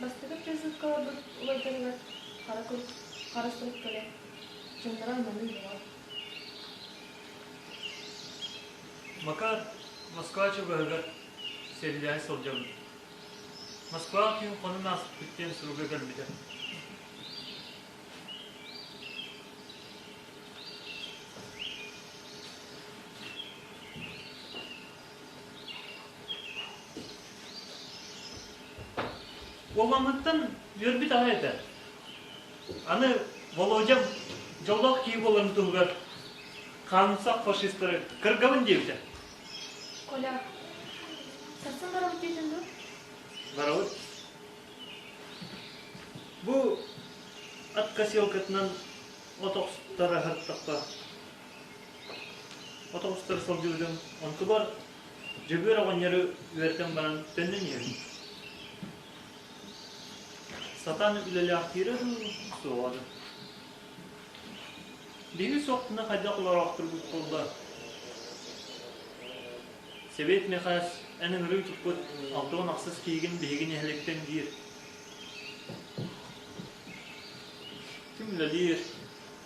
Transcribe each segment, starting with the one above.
Бастакы призывкаларбыт уларытарыгар хара кус, хара сурук кэлэ, чындара маны була. Макар Москва чугаһыгар сэллэһэ сылдьабын. Москва түүн хонун ааспыт диэн суруга кэлбитэ. Уолламмыттан үөрбүт аҕа этэ. Аны Володя дьоллоох киһи буоларын туһугар хаамсах фашистары кыргабын диэбитэ. Коля, сарсын барабыт диэтин дуо? Барабыт. Бу от косилкатынан от охсутара сырыттахха От оҕустар солдьулдьун онтубар Дьөгүөр оҕонньору үөрэтэн баран төннөн иһэбин. Сатаан үлэлээхтиирэ дуу, суоҕа да. Биһиги суохтуна хайдах олороохтурбут буолла? Сэбиэт Мэхээс эн ыҥырыы туппут алта уон ахсыс киһигин биһиги нэһиликтэн диир. Ким үлэлиир,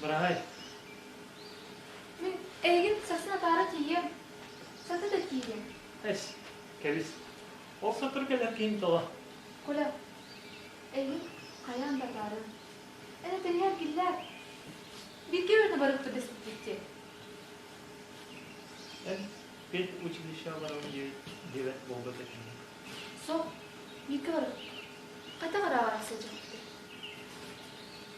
Быраһай. Мин эйигин сасын атаара тиийиэм. Саты да тиийиэм. Эс, кэбис. Ол сотору кэлэр киһин толо. Куля, эйигин хайаан да атаарыам. Эн этэригэр киллээр. Бииргэ үөрэнэ барыахпыт дэспиппиттиэ. Эн педучилищеҕа баран диэбэт буолбат этиҥ. Суох, бииргэ барыахпыт. Хайдах арааҕар сылдьыбыппыт?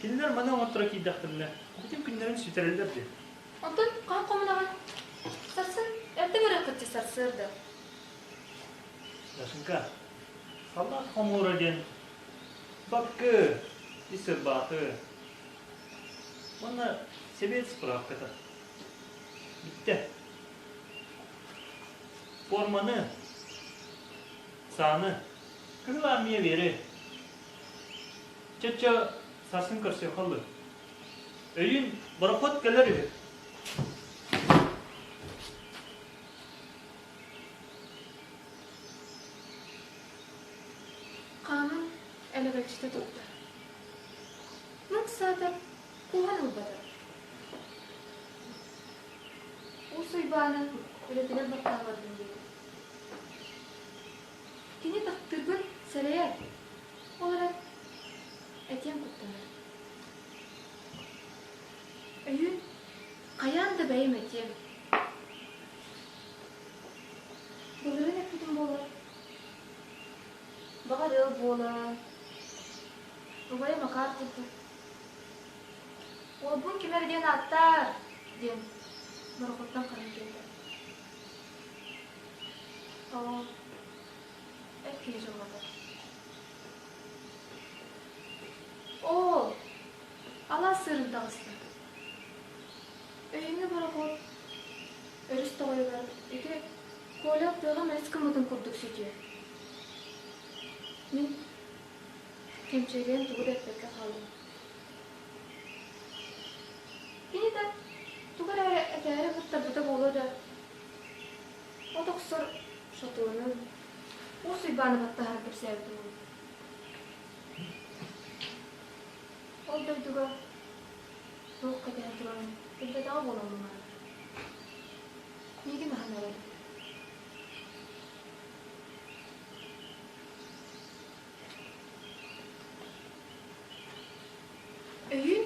Кинилэр маны оҥотторо киирдэхтэринэ, бүтүн күннэрин сүтэрэллэр диэн. Оттон хаан хомунаҕын сарсын эрдэ көрө кыччы сарсыарда. Яшенька, халлаан хомуора диэн баккы, ис ырбааты уонна сэбиэт справката. Бүттэ. Форманы, сааны, кыһыл армия веры, Чөччө сарсын көрсүөх халлы. Өйүн борохот кэлэр үһү. Хааман элэбэччитэ турда. Мык саатар кууһан ылбата. Уус Уйбааны үлэтигэр баттаабатын диэн. Кини таптыырбын сэрэйэр. Ол эрэн этиэм куттанар. Өйүн хайаан да бэйэм этиэм. Былырын эппитим буолар. Баҕар ыал буолар. Убайым акаар курдук. Уолбун ким эрэ диэн ааттаар диэн борохуттан ханан кэлбэт. Эр киһи дьыллатар. Оо, алаас сыырын таҕыстым. Өйүҥҥэ борохуот өрүс тоҕойугар ити Коля тыаҕа мэлис гыммытын курдук сүтүө. Мин кэмчилиэн тугу да эппэккэ хаалыам. Кини да туга эрэ этээри кытта бөтө буолуо да, от охсор шатонун Уус Уйбааны баттаһар кэпсээбитим онно. Ол дойдуга туох кэтэһэн турарын билбэтэҕэ буолан муҥара. Миигин аһан эрэр. Өйүн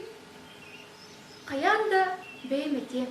хайаан да бэйэм этиэм